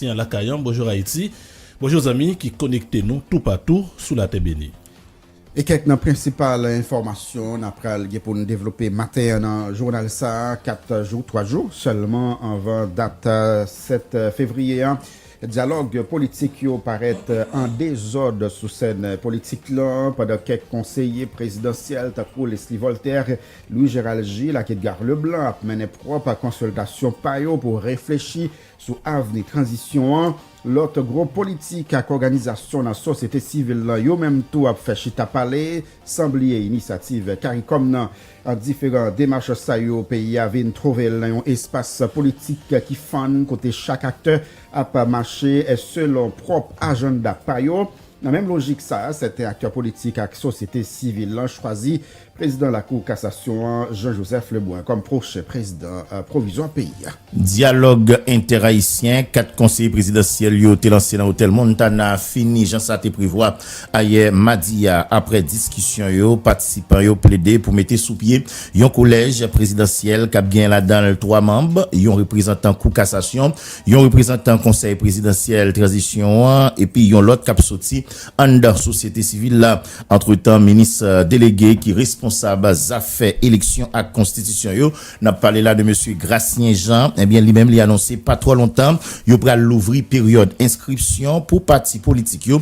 Ayisyen lakay an, Bonjour Haïti! Bonjour zanmi ki konekte nou toupatou sou latè beni. E kèk nan prensipal enfòmasyon n ap pral gen pou n devlope maten an nan jounal sa a, 4 jou, 3 jou sèlman anvan dat 7 fevriye a, dyalòg politik yo parèt an dezòd sou sèn politik lan pandan kèk konseye prezidansyèl tankou Leslie Voltaire, Louis Gérald Gilles ak Edgar Leblanc ap mennen pwòp konsiltasyon pa yo pou reflechi Sou avni tranzisyon an, lòt gwo politik ak òganizasyon nan sosyete sivil lan yo menm tou ap fè chita pale, san bliye inisyativ caricom nan. Ant diferan demach sa yo, peyi a vin twouve l nan yon espas politik ki fann kote chak aktè ap mache selon pwòp ajannda pa yo. Nan menm lojik sa a, sèten aktè politik ak sosyete sivil lan chwazi prezidan lakou kasasyon an, Jean Joseph Lebrun kòm pwochen prezidan pwovizwa peyi a. Dyalòg entè-ayisyen 4 konseye prezidansyèl yo te lanse nan otèl Montana fini jan sa te prevwa ayè madi a. Aprè diskisyon yo, patisipan yo plede pou mete sou pye yon kolèj prezidansyèl k ap gen ladan l 3 manm, yon reprezantan kou kasasyon, Yon reprezantan Konsèy Prezidansyèl Tranzisyon an epi yon lòt k ap soti anndan sosyete sivil la. Antretan, minis delege ki responsab zafè eleksyon ak konstitisyon yo, n ap pale la de mesye Gracien Jean, ebyen li menm li anonse pa twò lontan yo pral louvri peryòd enskripsyon pou pati politik yo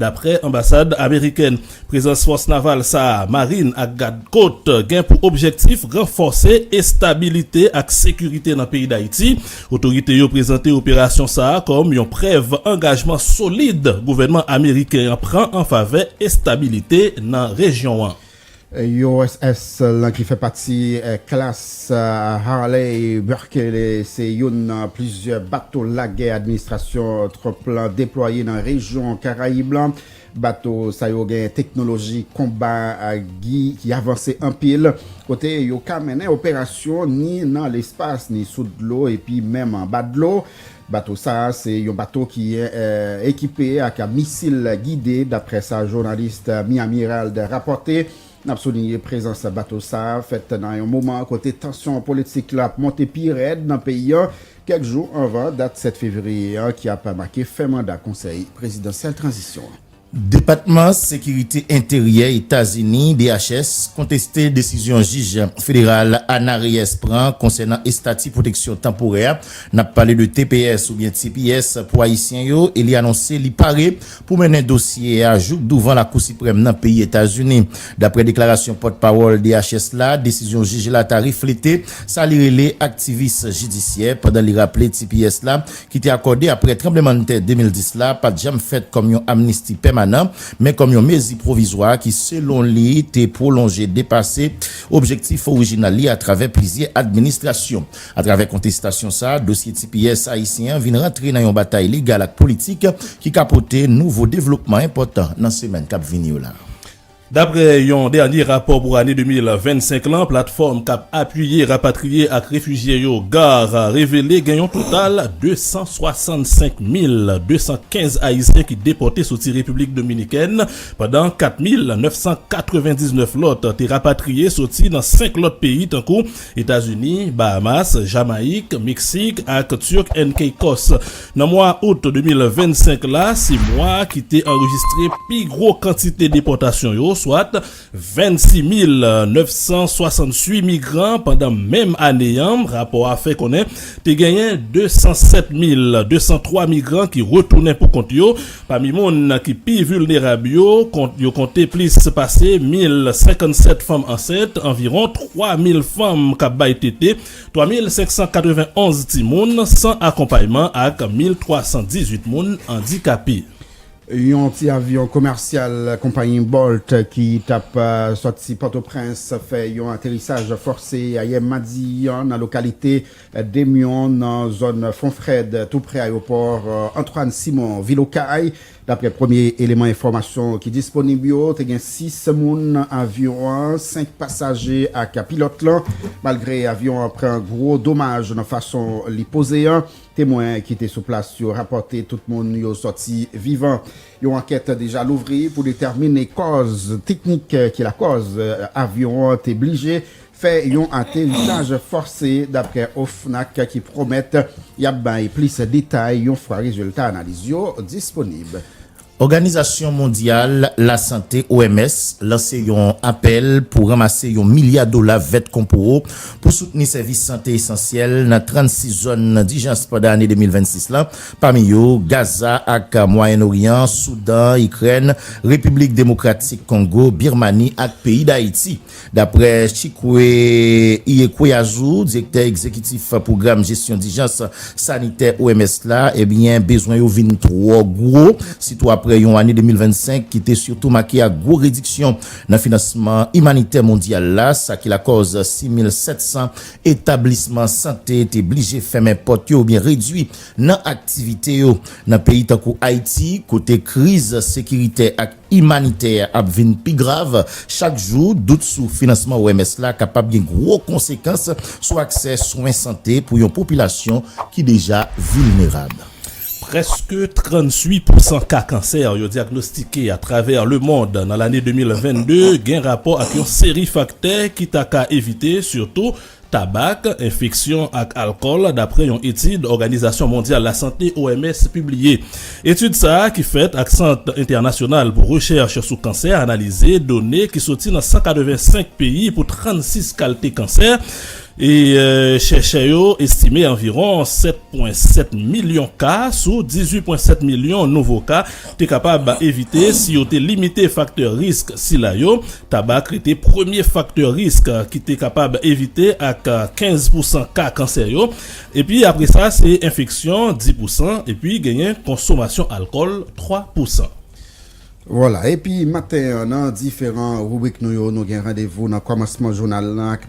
Daprè anbasad amerikèn, prezans fòs naval sa a, marin ak gad kot, gen pou objektif ranfòse estabilite ak sekirite nan peyi Dayiti. Otorite yo prezante operasyon sa a kòm yon prèv angajman solid gouvènman ameriken an pran an favè estabilite nan rejyon an. USS lan ki fè pati klas Harley Berkeley se youn nan plizyè bato lagè administrasyon Trump lan deplwaye nan rejyon Karayib lan. Bato sa yo gen teknoloji konba ki avanse anpil, kote yo ka mennen operasyon ni nan lespas ni sou dlo epi menm anba dlo. Bato sa a se yon bato ki ekipe ak misil gide, daprè sa jounalis Miami Herald rapòte. N ap soulinye prezans bato sa a fèt nan yon moman kote tansyon politik la ap monte pi rèd nan peyi an, kèk jou anvan dat 7 fevriye an ki ap make fen manda konsèy prezidansyèl tranzisyon an. Depatman Sekirite Enteryè Etazini, DHS, konteste desizyon jij federal Ana Reyes pran konsènan estati pwoteksyon tanporè a, n ap pale de tps oubyen tps pou ayisyen yo, e li anonse li pare pou mennen dosye a jouk douvan Lakou Siprèm nan peyi Etazini. Daprè deklarasyon pòt pawòl DHS la, desizyon jij la ta reflete sa li rele aktivis jidisyè, pandan li raple tps la ki te akòde apre tranblemann tè 2010 la pat janm fèt kòm yon amnisti pèmanan, men kòm yon mezi pwovizwa ki selon li te pwolonje depase objektif orijinal li atravè plizyè administrasyon. Atravè kontestasyon sa, dosye tps ayisyen an vin rantre nan yon batay legal ak politik ki ka pote nouvo devlopman enpòtan nan semèn kap vini yo la. Daprè yon dènye rapò pou ane 2025 lan platfòm kap apiye rapatriye ak refijye yo, gar, revele gen yon total 265 mil 215 ayisyen ki depòte soti Repiblik Dominikèn pandan 4 mil 999 lòt te rapatriye soti nan 5 lòt peyi tankou Etazini, Bahamas, Jamayik, Meksik ak Turk and Caicos. Nan mwa out 2025 la, se mwa ki te anrejistre pi gwo kantite depòtasyon yo, swat 26 mil 968 migran pandan menm ane an, rapò a fè konnen te genyen 207 mil 203 migran ki retounen pou kont yo, Pami moun ki pi vilnerab yo, yo konte plis pase 1,057 fanm ansent, anviwon 3,000 fanm k ap bay tete, 3,591 timoun san akonpayman ak 1,318 moun andikape. Yon ti avyon komèsyal konpayi Bolt ki t ap sòti Pòtoprens fè yon aterisaj fòse ayè madi an nan lokalite Demyon nan zòn Fonfrèd toupre ayewopò Antoine Simon vil Okay. Daprè premye eleman enfòmasyon ki disponib yo, te gen 6 moun nan avyon an, 5 pasaje ak pilòt lan. Malgre avyon an pran gwo domaj nan fason li poze an, temwen ki te sou plas yo rapòte tout moun yo sòti vivan. Yon ankèt deja louvri pou detèmine kòz teknik ki lakòz avyon an te blije fè yon aterisaj fòse daprè OFNAC ki pwomèt y ap bay plis detay yon fwa rezilta analiz yo disponib. Òganizasyon mondyal lasante, OMS, lanse yon apèl pou ranmase yon milya dola vèt konpoo pou soutni sèvis sante esansyèl nan 36 zòn dijans pandan ane 2026 la, pami yo Gaza ak Mwayen Oryan, Soudan, Ikrèn, Repiblik Demokratik Kongo, Birmani ak peyi Dayiti. Daprè Chikwe Iyekweazu, direktè egzekitif pwogram jesyon dijans sanitè OMS la, ebyen bezwen yo vin twò gwo, sitou aprè yon ane 2025 ki te sitou make ak gwo rediksyon nan finansman imanitè mondyal la, sa ki lakòz 6,700 etablisman sante te blije fèmen pòt yo oubyen redui nan aktivite yo. Nan peyi tankou Ayiti, kote kriz sekiritè ak. imanitè a ap vin pi grav chak jou, dout sou finansman OMS la kapab gen gwo konsekans sou aksè swen sante pou yon popilasyon ki deja vilnerab. Prèske 38 pousan ka kansè yo dyagnostike atravè lemond nan lane 2022 gen rapò ak yon seri faktè ki ta ka evite, sitou Tabak, enfeksyon ak alkòl dapre yon etid Òganizasyon Mondyal Lasante, OMS, pibliye. Etid sa a ki fèt ak Sant Entènasyonal pou Rechèch sou Kansè analize done ki soti nan 185 peyi pou 36 kalte kansè e chèchè yo estime anviwon 7,7 milyon ka sou 18,7 milyon nouvo ka te kapab evite si yo te limite faktè risk sila yo Tabak rete premye faktè risk ki te kapab evite ak 15 pousan ka kansè yo, epi apre sa se enfeksyon, 10 pousan, epi genyen konsomasyon alkòl, 3 pousan. Vwala, epi maten an nan diferan ribrik nou yo, nou gen randevou nan kòmansman jounal lan ak.